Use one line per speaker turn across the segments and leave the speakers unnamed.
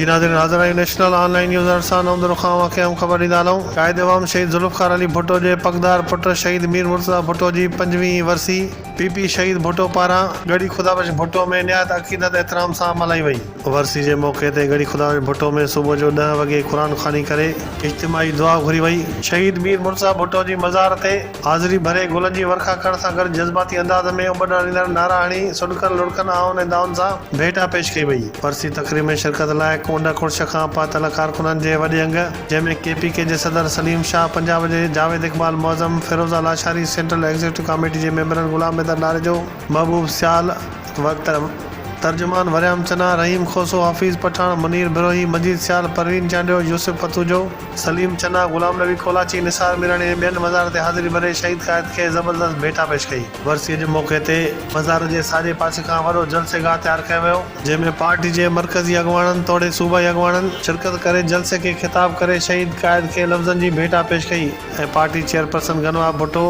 جي ناظرين حاضر آهيون نيشنل آن لائين نيوز ارڙهن سان نومدرو خان واقعي اهم خبر ڏيندا هلون قائد عوام شهيد ذوالفقار علي ڀٽو جي پڳدار پٽ شهيد مير مرتضيٰ ڀٽو جي پنجويهين ورسي پي پي شهيد ڀٽو پاران ڳڙهي خدا بخش ڀٽو ۾ نهايت عقيدت احترام سان ملهائي وئي. ورسي جي موقعي تي ڳڙهي خدا بخش ڀٽو ۾ صبح جو ڏهه وڳي قرآن خواني ڪري اجتماعي دعا گهري وئي شهيد مير مرتضيٰ ڀٽو جي مزار تي. حاضري ڀري گلن جي ورکا ڪرڻ سان گڏ جذباتي انداز ۾ اٻڏ آڻيندڙ نعرا هڻي سڏڪن لڙڪن آهن ۽ دانهن سان ڀيٽا پيش ڪئي وئي. ورسي تقريب ۾ شرڪت لاء ڪونڊ ڪڙڇ کان پهتل ڪارڪنن جي وڏي انگ جنهن ۾ ڪي پي ڪي جي صدر سليم شاهه پنجاب جي Javed Iqbal Moazzam Feroza Lashari central executive committee جي ميمبرن غلام حيدر ناريجو محبوب سيال و ترجمان وريام چنا رحيم کوسو حفيظ پٺاڻ منير بروهي مجيد سيال پروين چانڊيو يوسف پتوجو. سليم چنا، غلام نبي ڪولاچي، نثار ميراڻي ۽ ٻين مزار تي حاضري ڀري شهيد قائد کي زبردست ڀيٽا پيش ڪئي. ورسيء جي موقعي تي مزار جي ساڄي پاسي کان وڏو جلسي گاهه تيار ڪيو ويو، جنهن ۾ پارٽي جي مرڪزي اڳواڻن توڙي صوبائي اڳواڻن شرڪت ڪري جلسي کي خطاب ڪري شهيد قائد کي لفظن جي ڀيٽا پيش ڪئي ۽ party chairperson Ghinwa Bhutto,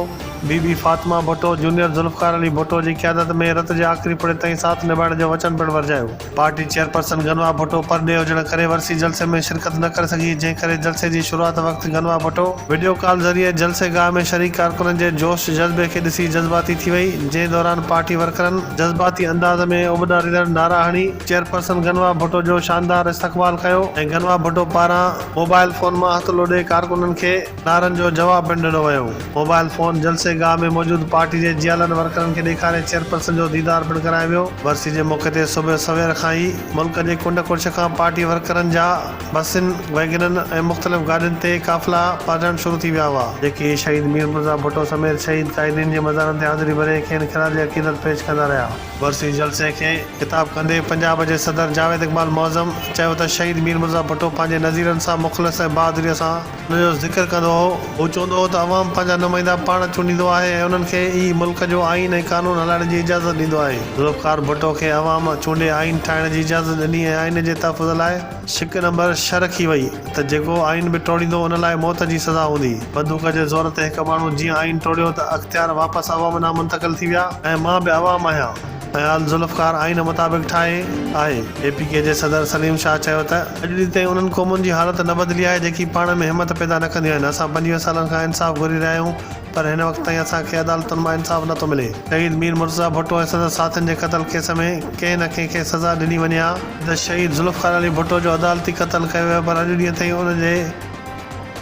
Bibi Bibi Fatima Bhutto, junior Zulfiqar Ali Bhutto جي قيادت ۾ رت جي آخري پڙي تائين ساٿ نڀائڻ جو وچن پڻ ورجايو. پارٽي چيئرپرسن گنوا ڀٽو پرڏيهه هجڻ ڪري ورسي جلسي ۾ شرڪت نه ڪري سگهي، جنهن ڪري جلسي جي شروعات وقت گنوا ڀٽو وڊيو ڪال ذريعي جلسي گاهه ۾ شريڪ ڪارڪنن جي جوش جذبي کي ڏسي جذباتي ٿي وئي، جنهن دوران پارٽي ورڪرن. جذباتي انداز ۾ اٻڏاريندڙ نعرا هڻي چيئرپرسن گنوا ڀٽو جو شاندار استقبال ڪيو ۽ گنوا ڀٽو پاران موبائل فون مان هٿ لوڏي ڪارڪنن کي. نعرن جو جواب پڻ ڏنو ويو. موبائل فون جلسي گاهه ۾ موجود پارٽي جي جيالن ورڪرن کي ڏيکاري چيئرپرسن جو ديدار پڻ ڪرايو ويو. ورسي جي موقعي تي صبح سوير کان ئي ملڪ جي ڪنڊ ڪڙڇ کان پارٽي ورڪرن جا بسين، ويگنن ۽ مختلف گاڏين تي قافلا پهچڻ شروع ٿي ويا هئا، جيڪي شهيد مير مرزا ڀٽو سميت شهيد قائدين جي مزارن تي حاضري ڀري کين خراج عقيدت پيش ڪندا رهيا. ورسي جلسي کي خطاب ڪندي پنجاب جي صدر جاويد اقبال معظم چيو ته شهيد مير مرزا ڀٽو پنهنجي نظيرن سان مخلص ۽ بهادريء سان ان جو ذڪر ڪندو هو. هو چوندو هو ته عوام پنهنجا نمائندا پاڻ چونڊيندو آهي ۽ انهن کي ئي ملڪ جو آئين ۽ قانون هلائڻ جي اجازت ڏيندو آهي. ذوالفقار ڀٽو کي عوام چونڊي آئين ٺاهڻ جي اجازت ڏني ۽ آئين جي تحفظ لاء شق نمبر ڇهه رکي وئي ته جيڪو آئين به ٽوڙيندو ان لاء موت جي سزا هوندي. بندوق جي زور تي هڪ ماڻهو جيئن آئين ٽوڙيو ته اختيار واپس عوام ڏانهن منتقل ٿي ويا ۽ مان به عوام آهيان. اياز ذوالفقار آئين مطابق ٺاهي آهي. اي پي ڪي جي صدر سليم شاهه چيو ته. اڄ ڏينهن تائين انهن قومن جي حالت نه بدلي آهي جيڪي پاڻ ۾ همت پيدا نه ڪنديون آهن، اسان پنجويهه سالن کان انصاف گهري رهيا آهيون پر هن وقت تائين اسان کي عدالتن مان انصاف نه ٿو ملي. شهيد مير مرتضيٰ ڀٽو ۽ سندس ساٿين جي قتل ڪيس ۾ ڪنهن نه ڪنهن کي سزا ڏني وڃي ها. ته شهيد ذوالفقار علي ڀٽو جو عدالتي قتل ڪيو ويو پر اڄ ڏينهن تائين ان جي.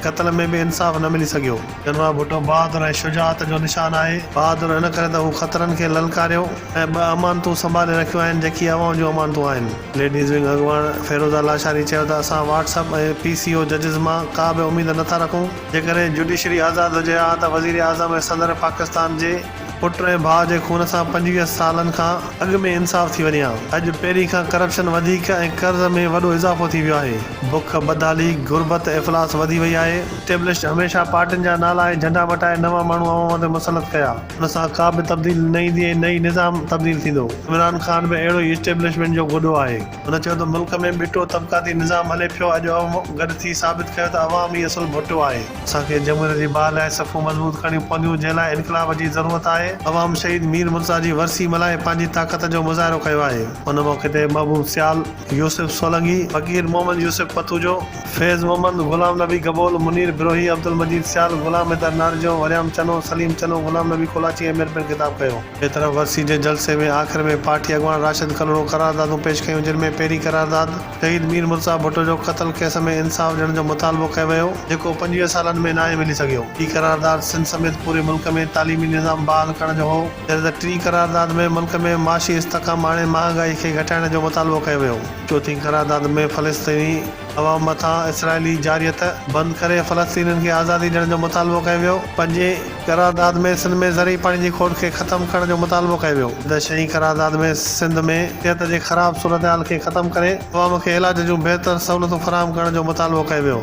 قتل ۾ به انصاف نه ملي سگهيو. جنرال ڀٽو بهادر ۽ شجاعت جو نشان آهي. بهادر ان ڪري ته هو خطرن کي للڪاريو ۽ ٻه امانتون سنڀالي رکيون آهن جيڪي عوام جون امانتون آهن. ليڊيز ونگ اڳواڻ فيروزه لاشاري چيو ته اسان WhatsApp ۽ P C O ججز مان ڪا به اميد نه ٿا رکون، جيڪڏهن جڊيشري آزاد هجي ها ته وزيراعظم ۽ صدر پاڪستان جي پٽ ۽ ڀاء جي خون سان پنجويهه سالن کان اڳ ۾ انصاف ٿي وڃي ها اڄ پهرين کان ڪرپشن وڌيڪ ۽ قرض ۾ وڏو اضافو ٿي ويو آهي بک بدحالي غربت افلاس وڌي وئي آهي اسٽيبلشڊ هميشه پارٽين جا نالا ۽ جهنڊا مٽائي نوان ماڻهو عوام تي مسلط ڪيا ان سان ڪابه تبديلي نه ايندي ۽ نه ئي نظام تبديل ٿيندو عمران خان به اهڙو ئي اسٽيبلشمينٽ جو گڏو آهي. هن چيو ته ملڪ ۾ ٻٽو طبقاتي نظام هلي پيو، اڄ عوام گڏ ٿي ثابت ڪيو ته عوام ئي اصل ڀٽو آهي، اسان کي جمهوريت جي باهه لاء صفون مضبوط ڪرڻيون پونديون جنهن لاء انقلاب جي ضرورت آهي، عوام شهيد مير مرتضيٰ جي ورسي ملهائي پنهنجي طاقت جو مظاهرو ڪيو آهي. ان موقعي تي محبوب سيال، يوسف سولنگي، فقير محمد يوسف پتوجو، فيض محمد، غلام نبي گبول، منير بروهي، عبدالمجيد سيال، غلام حيدر نارجو، وريام چنو، سليم چنو، غلام نبي ڪولاچي ۽ مير پڻ خطاب ڪيو. ٻئي طرف ورسي جي جلسي ۾ آخر ۾ پارٽي اڳواڻ راشد ڪلهوڙو قراردادون پيش ڪيون جن ۾ پهرين قرارداد شهيد مير مرتضيٰ ڀٽو جو قتل ڪيس ۾ انصاف ڏيڻ جو مطالبو ڪيو ويو جيڪو پنجويهه سالن ۾ ناهي ملي سگهيو ٻي قرارداد سنڌ سميت پوري ملڪ ۾ تعليمي نظام بحال ڪرڻ جو هو جڏهن ته ٽين قرارداد ۾ ملڪ ۾ معاشي استحڪام آڻي مهانگائي کي گهٽائڻ جو مطالبو ڪيو ويو. چوٿين قرارداد ۾ فلسطيني عوام مٿان اسرائيلي جارحيت بند ڪري فلسطينين کي آزادي ڏيڻ جو مطالبو ڪيو ويو پنجين قرارداد ۾ سنڌ ۾ زرعي پاڻي جي کوٽ کي ختم ڪرڻ جو مطالبو ڪيو ويو. د شينهن قرارداد ۾ سنڌ ۾ صحت جي خراب صورتحال کي ختم ڪري عوام کي علاج جون بهتر سهولتون فراهم ڪرڻ جو مطالبو ڪيو ويو.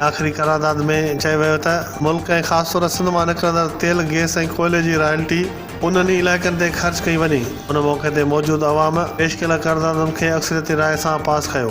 آخري قرارداد ۾ چيو ويو ته ملڪ ۽ خاص طور سنڌ مان نڪرندڙ تيل، گئس ۽ ڪوئلي جي رائلٽي انهن ئي علائقن تي خرچ ڪئي وڃي. ان موقعي تي موجود عوام پيش ڪيل قراردادن کي اڪثريتي راء سان پاس ڪيو.